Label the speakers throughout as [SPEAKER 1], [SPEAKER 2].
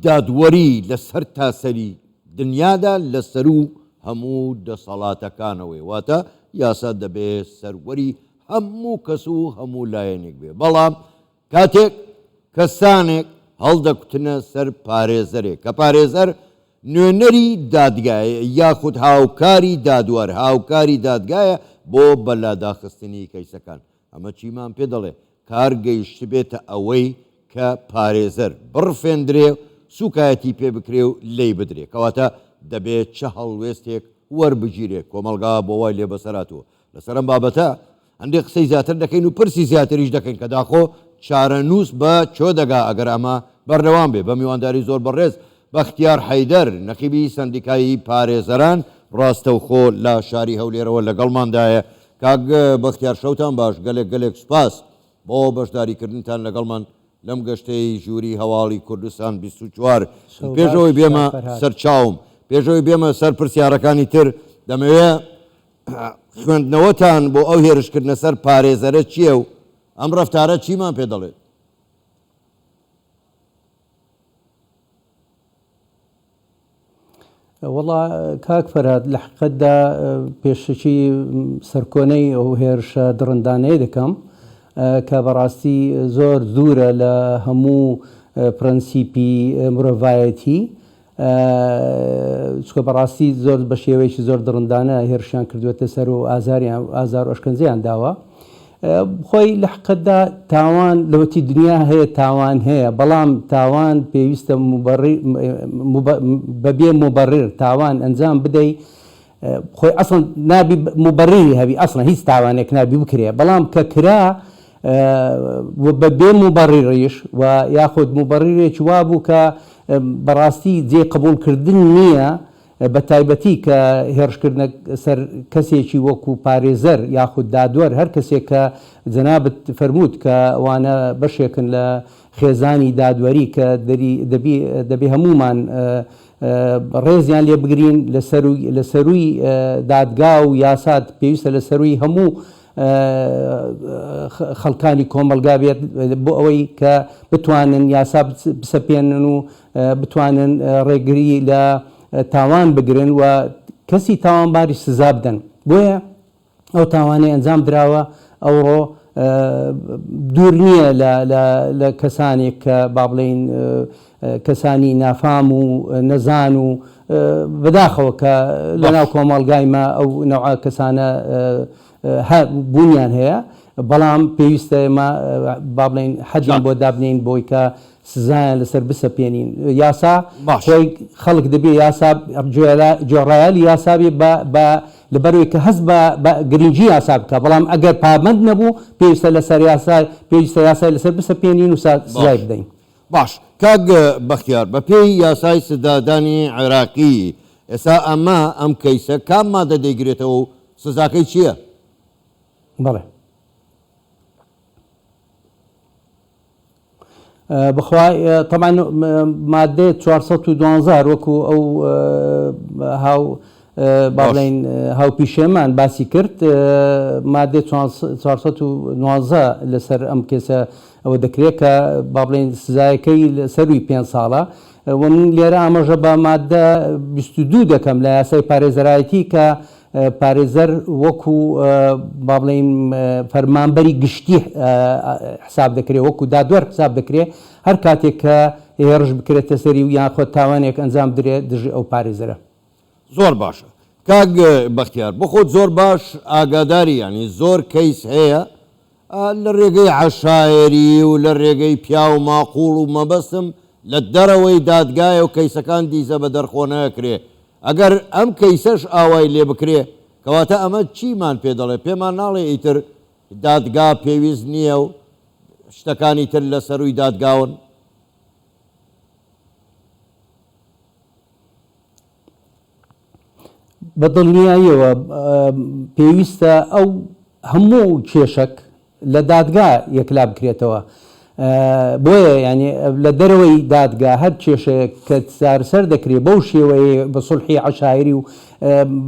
[SPEAKER 1] دادوەری لە سەرتاسەری دنیادا لە سەروو هەموو دەسەڵاتەکانەوەیە، واتە یاسا دەبێ سەروەری هەموو کەس و هەموو لایەنێک بێ، بەڵام کاتێک کەسانێک هەڵدەکوتنە سەر پارێزەرێک کە پارێزەر نوێنەری دادگایە یاخود هاوکاری دادوەر هاوکاری دادگایە بۆ بەلاداخستنی کەیسەکان، ئەمە چیمان پێ دەڵێ؟ کار گەیشتبێتە ئەوەی کە پارێزەر بڕفێندرێ، سووکایەتی پێ بکرێ و لێی بدرێ. کەواتە دەبێ چ هەڵوێستێک وەربگیرێ؟ کۆمەڵگا بۆ وای لێ بەسەر هاتووە لەسەر ئەم بابەتە هەندێ قسەی زیاتر دەکەین و پرسی زیاتریش دەکەین کە داخۆ چارەنووس بە کوێ دەگا ئەگەر ئەمە بەردەوام بێ؟ بە میوانداری زۆر بەڕێز بەختیار حەیدەر، نەقیبی سەندیکای پارێزەران، ڕاستەوخۆ لە شاری هەولێرەوە لەگەڵماندایە. کاک بەختیار شەوتان باش گەلێک گەلێک سوپاس بۆ بەشداری کردنتان لەگەڵمان لەم گەشتەی ژووری هەواڵی کوردستان بیست و چوار ی پێش ئەوەی بێمە سەر چاوم پێش ئەوەی بێمە سەر پرسیارەکانی تر دەمەوێ خوێندنەوەتان بۆ ئەو هێرشکردنە سەر پارێزەرە چییە و ئەم ڕەفتارە چیمان پێ دەڵێت؟
[SPEAKER 2] وەڵا کاک فەرهاد لە حقیقەتدا پێشەکی سەرکۆنەی ئەو هێرشە دڕندانەیە دەکەم کە بەڕاستی زۆر دوورە لە هەموو پرەنسیپی مرۆڤایەتی چکە بەڕاستی زۆر بە شێوەیەکی زۆر دڕندانە هێرشیان کردوێتە سەر و ئازاریان ئازار ئۆشکەنجیان داوە خۆی لەحقیقەتدا تاوان لەوەتی دنیا هەیە تاوان هەیە بەڵام تاوان پێویستە بەبێ موبەڕر تاوان ئەنجام بدەی خۆی ئەسڵەن نابی موبەڕری هەبی ئەسڵەن هیچ تاوانێک نابی بکرێ بەڵام کە کرا بەبێ موبەڕریش و یاخود موبەڕرێکی وابوو کە بەڕاستی جێ قبوڵکردن نییە بە تایبەتی کە هێڕشکردنە سەر کەسێکی وەکو پارێزەر یاخود دادوەر هەر کەسێک کە جەنابت فەرمووت کە ئەوانە بەشێکن لە خێزانی دادوەری کە دەری دەبی دەبێ هەموومان ڕێزیان لێ بگرین لە سەرووی لە سەرووی دادگا و یاسات پێویستە لە سەرووی هەموو خەڵکانی کۆمەڵگا بێت بۆ ئەوەی کە بتوانن یاسا بسەپێنن و بتوانن ڕێگری لە تاوان بگرن و کەسی تاوانباریش سزا بدەن بۆیە ئەو تاوانەی ئەنجام دراوە ئەوڕۆ دوور نییە لە کەسانێک کە با بڵێین کەسانی نافام و نەزان و بەداخەوە کە لەناو کۆمەڵگای ما ئەو نەوع کەسانە بوونیان هەیە بەڵام پێویستە ئێمە با بڵێین حەدیان بۆ دابنین بۆی کە سزایان لەسەر بسەپێنین یاسا باش خۆی خەڵک دەبێ یاسا جوێرا جۆڕایەلی یاسا بێ بە بە لەبەرەوەی کە هەست بە بە گرنگی یاسا بکە بەڵام ئەگەر پابەند نەبوو پێویستە لەسەر یاسا پێویستە یاسای لەسەر بسەپێنین و سا سزای باش بدەین. باش کاک
[SPEAKER 1] بەختیار بە پێی یاسای سزادانی عێراقی ئێستا ئەمە ئەم کەیسە کام مادە دەیگرێتەوە و سزاکەی چییە؟
[SPEAKER 2] بەڵێ. بخوا تەبان مادێ چوار سەد و دوانزە هەر وەکو ئەو هاو با باش بڵێین هاو پیشەمان باسی کرد مادێ چوار چوار سەد و نوازدە لەسەر ئەم کێسە ئەوە دەکرێت کە با بڵێین سزایەکەی لە سەروی پێنج ساڵە و من لێرە ئاماژە بە مادە بیست و دوو دەکەم لە یاسای پارێزەرایەتی کە پارێزەر وەکو با بڵێین فەرمانبەری گشتی حساب دەکرێت وەکو دادوەر حساب دەکرێت هەر کاتێک کە هێڕش بکرێتە سەری و یان خۆ تاوانێک ئەنجام بدرێت دژی ئەو پارێزەرە. زۆر
[SPEAKER 1] باشە کاک بەختیار بۆ خۆت زۆر باش ئاگاداری یانی زۆر کەیس هەیە لە رێگەی عەشایەری و لە رێگەی پیاو ماقوڵ و مەبەستم لە دەرەوەی دادگایە و کەیسەکان دیزە بە دەرخۆ نەکرێ ئەگەر ئەم کەیسەش ئاوای لێ بکرێ کەواتە ئەمە چیمان پێ دەڵێ پێمان ناڵێ ئیتر دادگا پێویست نییە و شتەکانی تر لە سەرووی دادگاون؟
[SPEAKER 2] بە دڵنیاییەوە پێویستە ئەو هەموو کێشەک لە دادگا یەکلا بکرێتەوە بۆیە ینی لە دەرەوەی دادگا هەر کێشەیەک کە سارسەر دەکرێت بەو شێوەیە بە سڵحی عشاعری و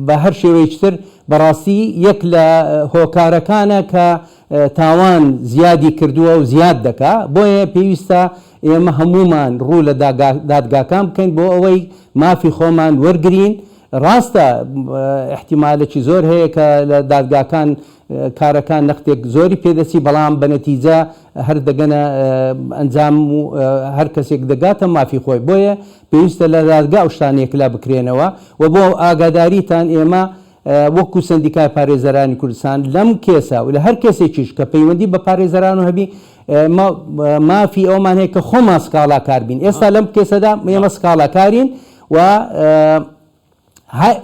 [SPEAKER 2] بە هەر شێوەیشتر بەڕاستی یەک لە هۆکارەکانە کە تاوان زیادی کردووە و زیاد دەکا بۆیە پێویستە ئێمە هەموومان ڕوو لە دادگاکان بکەین بۆ ئەوەی مافی خۆمان وەرگرین، ڕاستە ئیحتیمالێکی زۆر هەیە کە لە دادگاکان کارەکان نەختێک زۆری پێ دەچی بەڵام بە نەتیجە هەر دەگەنە ئەنجام و هەر کەسێک دەگاتە مافی خۆی بۆیە پێویستە لە دادگا ئەو شتانەیە کلا بکرێنەوە و بۆ ئاگاداریتان ئێمە وەکو سەندیکای پارێزەرانی کوردستان لەم کێسە و لە هەر کێسێکیش کە پەیوەندی بە پارێزەران و هەبی ئێمە مافی ئەومان هەیە کە خۆمان سکاڵاکار بین ئێستا لەم کێسەدا ئێمە سکاڵاکارین و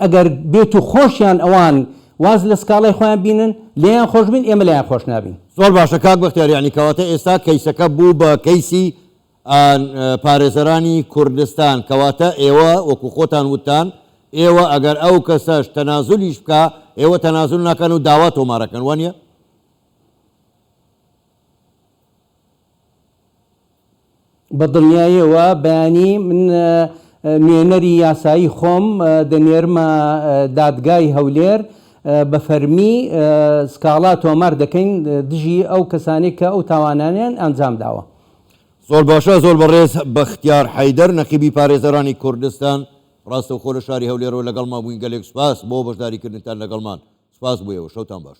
[SPEAKER 2] ئەگەر بێت و خۆشیان ئەوان واز لە سکاڵای خۆیان بینن لێیان خۆش بین ئێمە لایان خۆش نابین زۆر باشە کاک بەختیار
[SPEAKER 1] یعنی کەواتە ئێستا کەیسەکە بوو بە کەیسی ئان پارێزەرانی کوردستان کەواتە ئێوە وەکو خۆتان وتتان ئێوە ئەگەر ئەو کەسەش تەنازولیش بکا ئێوە تەنازول ناکەن و داوا تۆمارەکەن وانیە؟
[SPEAKER 2] بە دڵنیایەوە بەیانی من نوێنەری یاسایی خۆم دەنێرمە دادگای هەولێر بە فەرمی سکاڵا تۆمار دەکەین دژی ئەو کەسانێک کە ئەو تاوانانیان ئەنجام داوە. زۆر باشە
[SPEAKER 1] زۆر بەڕێز بەختیار حەیدەر نەقیبی پارێزەرانی کوردستان ڕاستەوخۆ لە شاری هەولێرەوە لەگەڵمان بووین گەلێک سوپاس بۆ بەشداریکردنتان لەگەڵمان سوپاس بۆ ئێوە شەوتان باش.